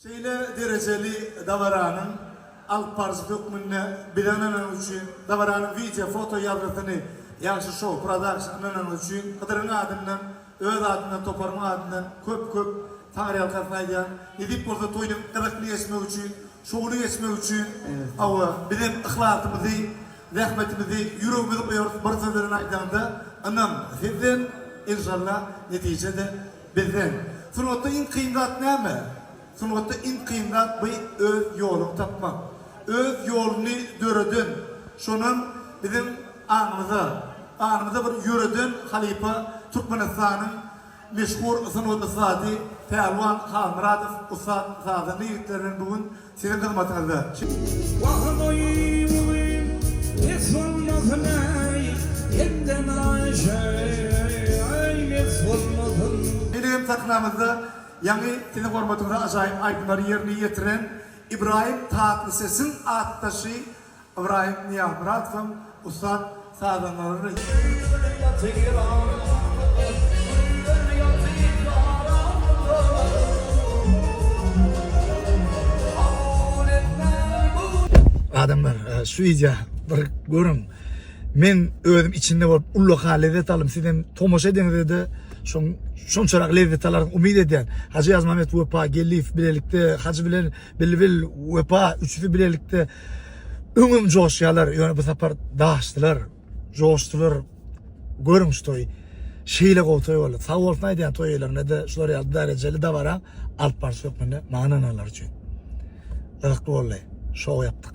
Şeýle derejeli dabaranyň alyp baryjy hökmünde bize ynananyňyz üçin, dabaranyň wideo, foto ýazgysyny Ýagşy Show Production ynananyňyz üçin Hydyryň adyndan, öz adymdan, toparymyň adyndan köp-köp taňryýalkasyn aýdýan. Nesip bolsa toýuň gyzykly geçmegi üçin, şowly geçmegi üçin, hawa, bizem yhlasymyzy, zähmetimizi, ýüregimizi goýarys, bir söz bilen aýdanda, ynam, sizden, enşalla, netije-de Bizden, Sungatda iň kyn zat näme? Sungatda iň kyn zat by öz ýoluňy tapmak. Öz ýoluny döreden, şonam biziň aňymyza, ganymyza bir ýöreden halypa Türkmenistanyň meşhur sungat ussady Pälwan Halmyradow ussat sazanda ýigitlerden bu gün Siziň hyzmatyňyzda. Wahoy bugün pes bolmasyn äý elden aýşaý mes bolmasyn. Şeýle hem sahnamyzda ýaňy siziň hormatyňyza ajaýyp aýdymlary ýerine ýetiren Ibrahim Tatlysesiň atdaşy Ybraýym Nyýazmyradowyň ussat sazandaryny. Adamlar şu wideo bir görüň men özüm içinde bolup ullaka lezzet aldym sizem tomaşa ediňizde şonçarak lezzet alaryňyz umyt edýän Hajy Ýazmammet Wepa Geldiýew bilelikde Hajy bilen Bilbil Wepa üçüsi bilelikde Öňem joşýarlar, ýöne bu sapar daşdylar, joşdular. Görüň şu toýy. Şeýle gowy toý boldy. Sag bolsun aýdýan toý eýelerine-de şular ýaly därejeli dabara alyp baryş hökmünde maňa ynananlar üçin. Gyzykly boldy. Şou ýapdyk.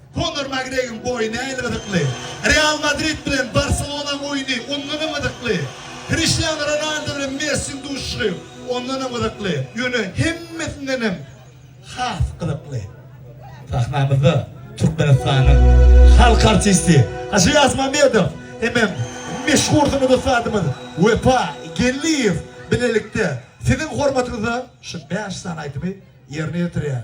Konor Makgregoriň boýy nähili gyzykly? Real Madrid bilen Barselonaň oýny ondan hem gyzykly. Kriştianu Ronaldu bilen Messiniň duşuşygy ondan hem gyzykly. Ýöne hemmesinden hem has gyzykly. Sahnamyzda Türkmenistanyň halk artisti Hajy Ýazmamedow hemem meşhur sungat ussadymyz Wepa Geldiýew bilelikde siziň hormatyňyza şu bäş sany aýdymy ýerine ýetirýär.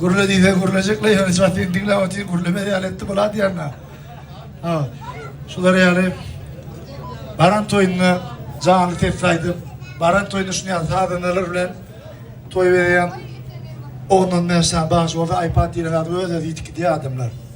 Gürle diýse gürlejek leý ýöne çatyny diňläp otyr gürlemez ýaly etdi bu ladýanna. Ha. Şular ýaly baran toýunda janly ses aýdyp, baran toýunda şuny ýaly sazanalar bilen toý berýän Ondan men şa baş bolsa iPad diýen zat öz-özü ýitip gidýär adamlar.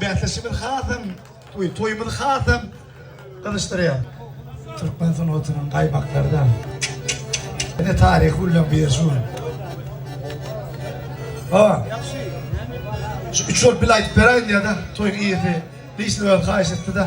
Bäsleşigimiz hasam we toýumyzy hasam gyzyşdyrýar. Türkmen sungatynyň gaýmaklary-da ine taryhy gülleň biri şu gün. Hawa. Şu üç bolup bile aýdyp beräýin diýýär-de toýuň eýesi. Dişli öz haýyş etdi-de.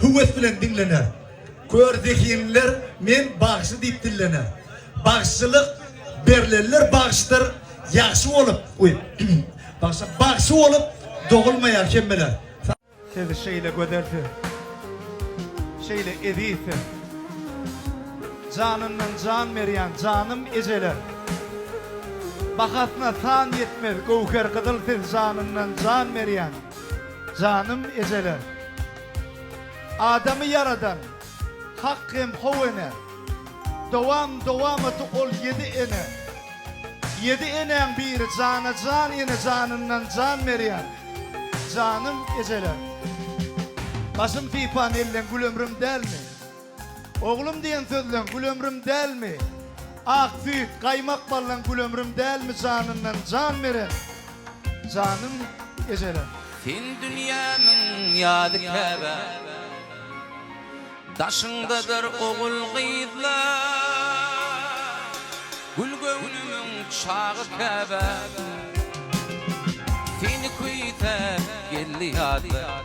höwes bilen diňlener. Kör zehinliler Men bagşy diýip dillener. Bagşylyk berlenler bagşydyr, ýagşy bolup, uý, bagşa, bagşy bolup dogulmaýar hemmeler. Siz şeýle gözelsiniz, şeýle ezizsiz, janyndan jan berýän janym ejeler. Bahasyna san ýetmez göwher gyzyl siz janyndan jan berýän janym ejeler. Adamy ýaradan Hak hem how ene Dowam dowamaty ol ýedi ene Ýedi enäň biri jana jan ene janyndan jan berýän Janym ejeler Başym sypan elleň gül ömrüm dälmi? Oglum diýen sözleň gül ömrüm dälmi? Ak süýt, gaýmak ballaň gül ömrüm dälmi Janyndan jan beren janym ejelem. Sen dünýämiň ýady Käbä daşyňdadyr ogul-gyzlar Gül göwnümiň çagy Käbä seni küýsäp geldi ýadlar.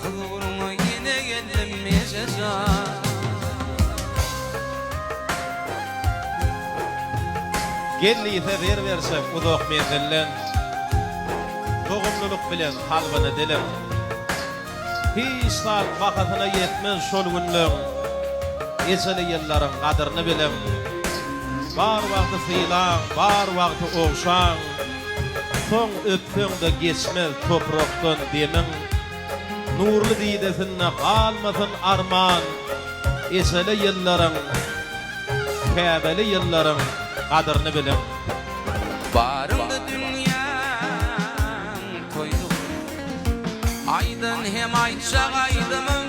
Huzuryňa ýene geldim Eje jan. Gelnise zer berseň uzak menzilden, Dogumlylyk bilen kalbyny dilim. Hiç zat bahasyna ýetmez şol günleň, Ejeli ýyllaryň gadyryny biliň. Bar wagty sylaň, bar wagty ogşaň, Soň öpseň-de geçmez toprakdan demiň, Nurly didesinde galmasyn arman. Eşeli ýyllaryň, käbeli ýyllaryň gadyryny biliň. Baryňdy dünýäň toýlugy. Aýdan hem aýtjak aýdymyň.